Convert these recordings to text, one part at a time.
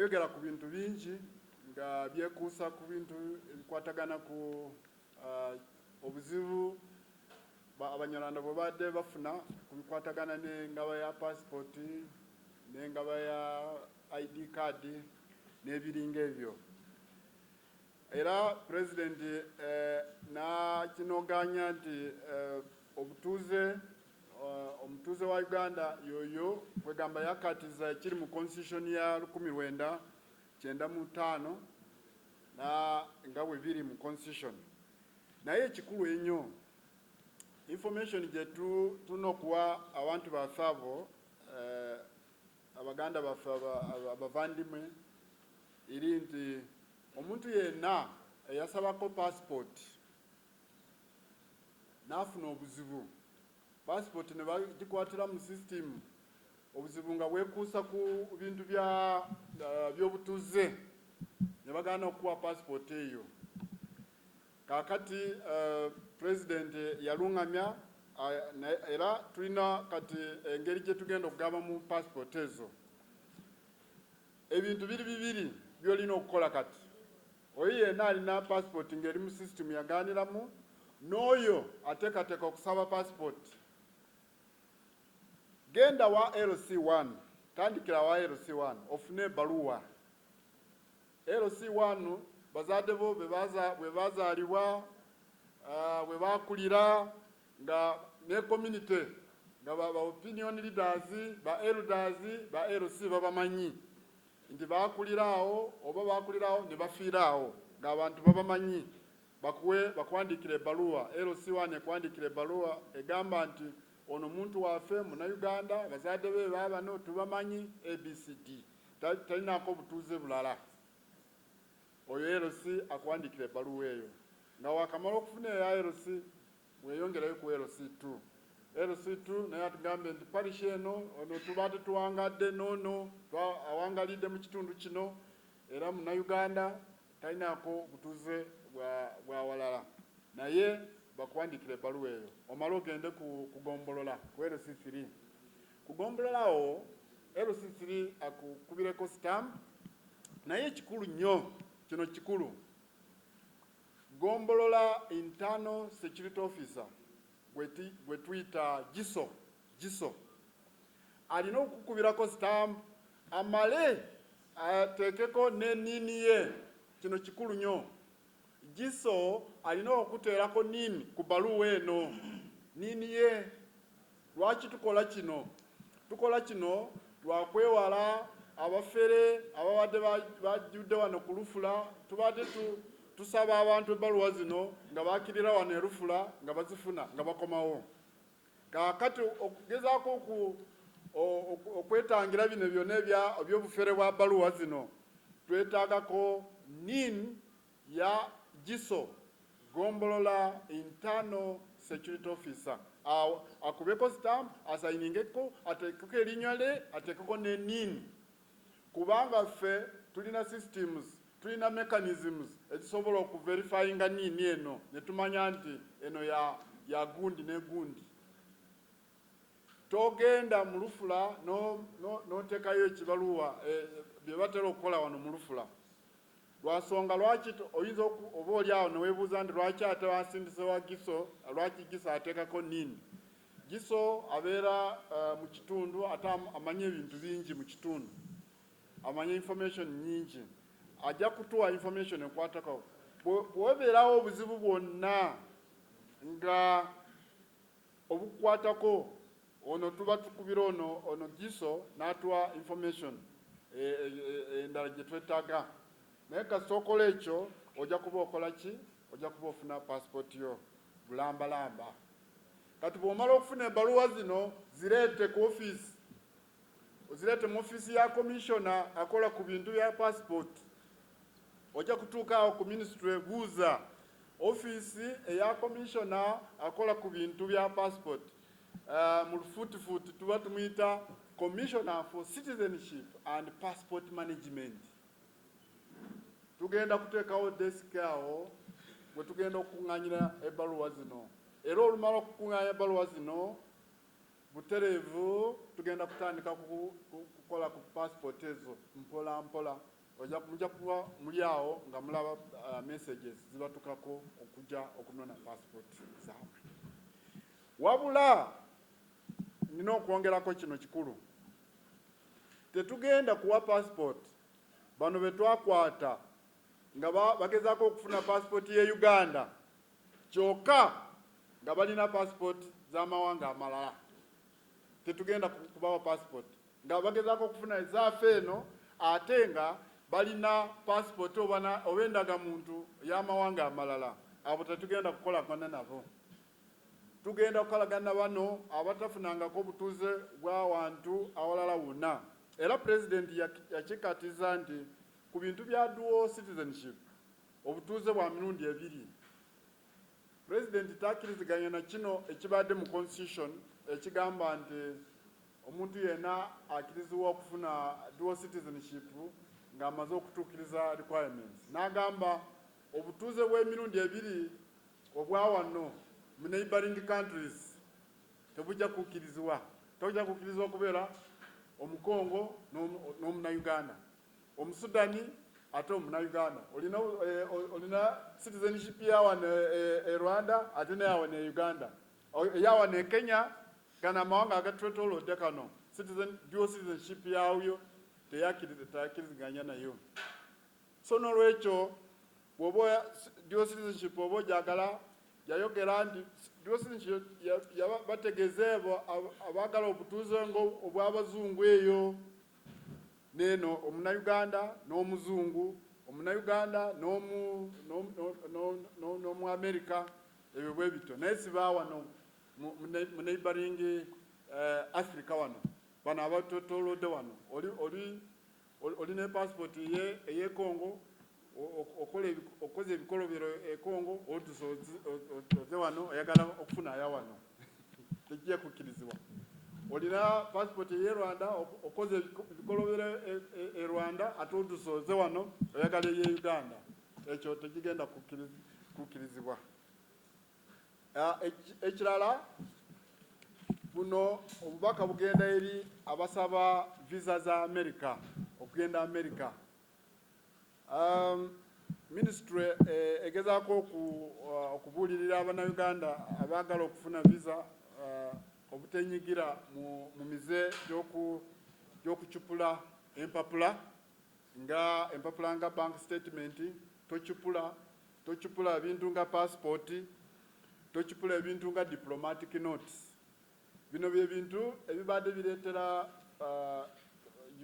Yayogera ku bintu bingi nga byekuusa ku bintu ebikwatagana ku uh, obuzibu abanyarwanda bwe baadde bafuna ku bikwatagana n'engaba ya paasipooti n'engaba ya id kaadi n'ebiringa ebyo era pulezidenti eh, n'akinogaanya nti eh, obutuuze Omutuuze wa Uganda yoyo kwegamba yakatiza ekiri mu constitution ya lukumi lwenda kyenda mu ttaano na nga bwe biri mu constitution. Naye ekikulu ennyo information gye tulina okuwa abantu baffe abo eh, abaganda baffe abavandimwe eri nti omuntu yenna eyasabako passport n'afuna obuzibu paasipooti ne bagikwatira mu sisitimu obuzibu nga bwekuusa ku bintu eh, by'obutuze ne bagana okukuwa paasipooti eyo kakati eh, pulezidenti yalungamya eh, era tulina kati engeri gye tugenda okugaba mu paasipooti ezo ebintu biri bibiri byolina okukola kati Oyo yena alina passport nga eri mu system yaganiramu noyo atekateka okusaba passport genda wa LC one tandikira wa LC one ofune ebaluwa LC one bazade bo bwebazalibwa uh, bwebakulira nga ne community nga ba opinion leaders ba elders ba LC babamanyi nti bakulira awo oba bakulira awo ne bafiira awo ng'abantu babamanyi bakuwe bakuwandiikira ebbaluwa LC1 ekuwandiikira ebbaluwa egamba nti ono muntu waffe munnayuganda abazadde be baabano tubamanyi abcd talinaako obutuuze bulala oyo LC akuwandiikira ebbaluwa eyo nga wakamala okufuna eya LC Bweyongerayo ku LC two. LC two naye atugambye nti Parish eno ono tubaade tuwangadde noono twa awangalidde mu kitundu kino era Munnayuganda talinaako butuze bwa bwawalala naye bakuwandiikira ebbaluwa eyo omale ogende ku ku gombolola ku LC three. Ku gombolola awo LC three akukubireko stamp naye ekikulu nnyo kino kikulu Ggombolola Internal Security Officer gwe tuyita GISO, GISO, alina okukubirako sitamp amale ateekeko ne niini ye. Kino kikulu nnyo. GISO alina okuteerako niini ku bbaluwa eno, niini ye. Lwaki tukola kino? Tukola kino lwa kwewala abafere ababadde bajjudde wano ku lufula. Tubadde tusaba abantu ebbaluwa zino nga bakirira wano e lufula nga bazifuna nga bakomawo. Kaakati okugezaako okwetangira bino byonna eby'obufere bwa bbaluwa zino twetaagako nin ya giso gombolola internal security officer awo akubeko stamp asayiningeko atekeko elinywa le atekeko nenin kubanga ffe tulina systems tulina mechanisms ezisobola okuverifyinga nini eno netumanya nti eno ya ya gundi ne gundi togenda mulufula notekayo no, no ekibaluwa e, byebatera okukola wano mulufula Lwa nsonga lwaki oyinza oba oli awo ne weebuuza nti lwaki ate bansindise wa Giso, lwaki Giso ateekako nini? Giso abeera mu kitundu ate amanyi ebintu bingi mu kitundu, amanyi information nnyingi, ajja kutuwa information ekwatako. Bwe webeerawo obuzibu bwonna nga obukukwatako ono tuba tukubira ono ono giso natuwa information endala e, e, e, gyetwetaga naye kasita okola ekyo ojja kuba okola ki ojja kuba ofuna passport yo bulambalamba kati bwomala okufuna ebaluwa zino zireete ku office Ozirete mu ofiisi ya komishona akola ku bintu bya paasipooti ojja kutuuka awo ku minisitule buuza ofiisi eya komishona akola ku bintu bya paasipooti uh, eh, mu lufuutifuuti tuba tumuyita commissioner for citizenship and passport management tugenda kuteekawo desiki awo bwe tugenda okukuŋŋanyira ebbaluwa zino era olumala okukuŋŋanya ebbaluwa zino Butereevu tugenda kutandika kukola ku passport ezo mpola mpola oja muja kuba muli awo nga mulaba uh, messages zibatukako okuja okunona passport zaabwe wabula nina okwongerako kino kikulu tetugenda kuwa passport bano betwakwata nga bagezaako okufuna passport ye Uganda kyoka nga balina passport zamawanga amalala tetugenda kubawa passport nga bagezako okufuna ezafe eno ate nga balina passport obana obendaga muntu yamawanga amalala abo tetugenda kukola kona nabo tugenda kukolagana bano abatafunangako obutuze bwawantu awalala wona era president yakikatiza nti ku bintu bya dual citizenship Obutuuze bwa mirundi ebiri. President takiriziganya na kino ekibaadde mu constitution ekigamba nti omuntu yena akirizibwa okufuna dual citizenship nga amaze okutuukiriza requirements. N'agamba obutuuze bw'emirundi ebiri obwa wano mu neighboring countries tebujja kukirizibwa, tojja kukirizibwa kubeera omukongo n'omunauganda. Omusudani ate omunauganda olina eh, olina citizenship yawano e eh, eh, Rwanda ate neyawano e Uganda eyawano e Kenya gano amawanga agatwetolodde kano citizen dual citizenship yawyo teyakiriziganya nayo so nolwekyo bwoba dual citizenship oba ojagala yayogera nti dual citizenship bategezeebo abagala obutuuze nga obwabazungu eyo N'eno Omunnayuganda n'Omuzungu, Omunnayuganda n'omu, n'omu, n'omu, n'omu, n'omu, n'omu Amerika, ebyo bwe bityo. Naye si ba wano mu, mu, ne, mu neighboring eh, Africa wano, bano abatwetoolodde wano. Oli, oli, oli, oli ne passport eye, eye Congo, okukoza ebikolobero ekongo otusa oze wano oyagala okufuna aya wano tejja kukkirizibwa olina passport eye rwanda okoze ebikolobero e, e, e rwanda ate otusa oze wano oyagala eye uganda ekyo tegigenda kukkirizibwa ah, ekirala buno obubaka bugenda eri abasaba visa za america okugenda america Um, ministry eh, egezaako uh, okubuulirira abannayuganda abaagala okufuna visa uh, obutenyigira mu, mu mize gy'okucupula empapula nga empapula nga bank statement tocupula tocupula ebintu nga passport tocupula ebintu nga diplomatic notes Bino bye bintu ebibade biretera uh,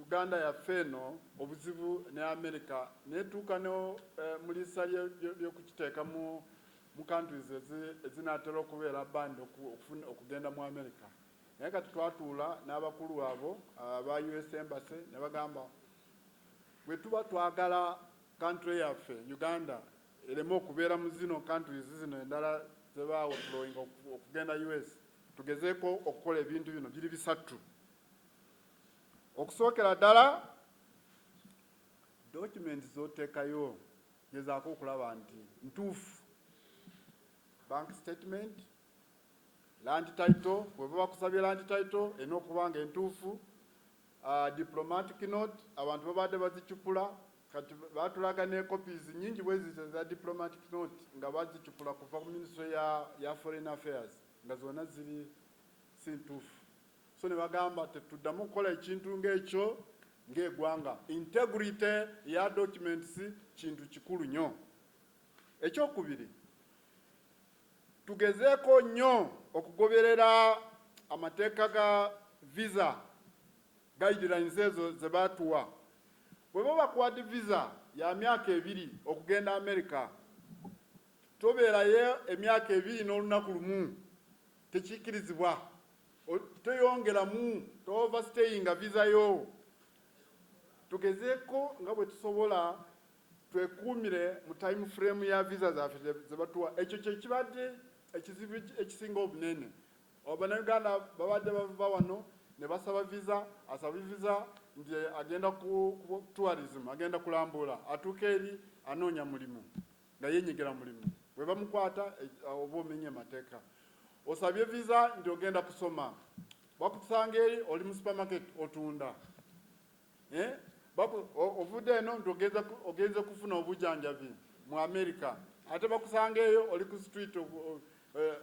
Uganda yaffe eno obuzibu ne America netuuka ne uh, mulisa lyokukiteeka mu mu countries ezinatera okubeera band okugenda mu America naye kati twatuula n'abakulu abo aba uh, US embassy ne bagamba bwe tuba twagala country yaffe Uganda eleme okubera mu zino countries zino endala zeba withdrawing okugenda US tugezeko okukola ebintu bino biri bisattu okusookera ddala document zotekayo gezaako okulaba nti ntuufu bank statement land title weba bakusabye land title erina okuba nga entuufu uh, diplomatic note abantu babadde bazicupula Kati batulaga ne copies nyingi bweziti eza diplomatic note nga bazicupula kuva ku ministry ya ya foreign affairs nga zona ziri si ntuufu so nebagamba tetuddamu kukola ekintu nga ekyo nga egwanga integrity ya documents kintu kikulu nyo ekyokubiri tugezeeko nyo okugoberera amateeka ga visa guidelines ezo zebatuwa Bweba bakuwade visa ya myaka ebiri okugenda America toberayo emyaka ebiri nolunaku lumu tekyikirizibwa toyongeramu to over stayinga visa yo tugezeko nga bwetusobola twekuumire mu time frame ya visa zafe zebatuwa ekyo kyekibade ekizibu ekisinga obunene. Bannayuganda babadde bava wano ne basaba viza, asaba viza nti agenda ku tourism, agenda kulambula, atuuka eri anoonya mulimu nga yenyigira mulimu, bwe bamukwata e, oba omenye mateeka. Osabye viza nti ogenda kusoma, bakusanga eri oli mu supermarket otunda. Eh? Ovudde eno nti ogenze kufuna obujanjabi mu Amerika ate bakusangeeyo oli ku street eh,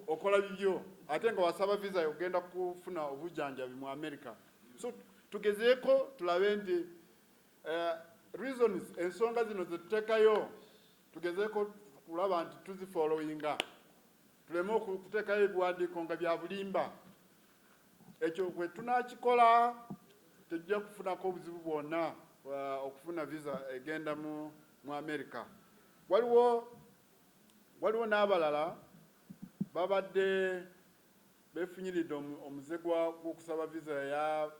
okola bibyo ate nga wasaba visa yokugenda kufuna obujanjabi mu Amerika. So tugezeeko tulabe nti eh, reasons ensonga zino zetutekayo tugezeeko kulaba nti tuzifollowinga Tuleme okuteekayo ebiwandiiko nga bya bulimba. Ekyo bwe tunaakikola tujja kufunako obuzibu bwonna uh, okufuna visa egenda mu mu Amerika. Waliwo waliwo n'abalala babadde befunyiridde omuze gw'okusaba visa ya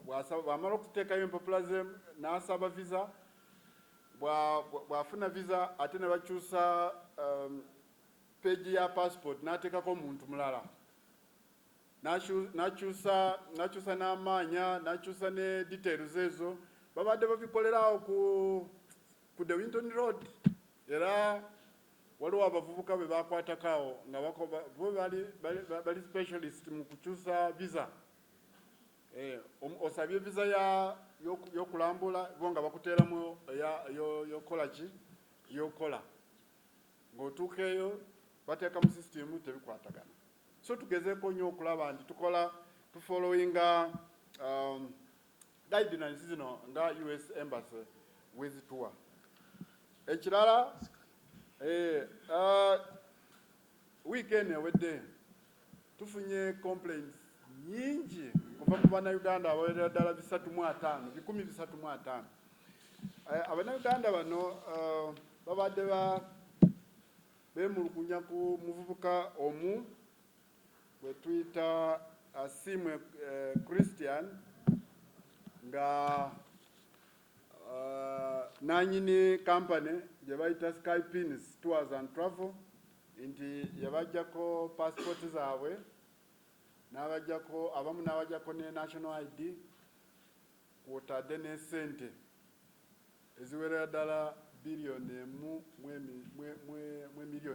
bw'amala okuteekayo empapula ze n'asaba visa bw'afuna visa ate ne bakyusa um, page ya passport natekako omuntu mulala nakyusa nakyusa n'amaanya nakyusa ne details ezo babadde babikolerawo ku ku the winton road era waliwo abavubuka be bakwatakawo nga bo bali bali specialist mu kukyusa visa eh, osabye visa ya yokulambula bo nga bakuteeramu eyokukola ki yokukola ng'otuuka eyo bateeka mu sisitimu tebikwatagana so tugezeeko nnyo okulaba nti tukola tufollowinga um, guidelines zino nga us embassy wezituwa ekirala eh, uh, Wiiki eno ewedde tufunye complaints nyingi kuva ku bannayuganda abawerera ddala bisatu mu ataano bikumi bisatu mu ataano eh, abannayuganda bano eh, babadde ba beemulugunya ku muvubuka omu gwe tuyita asiimwe eh, christian nga Uh, nanyini company gye bayita Sky Pins Tours and Travel nti yabajjako passport zaabwe n'abajjako abamu n'abajjako ne national ID kwotadde n'esente eziwerera ddala biliyoni emu mu emiliyoni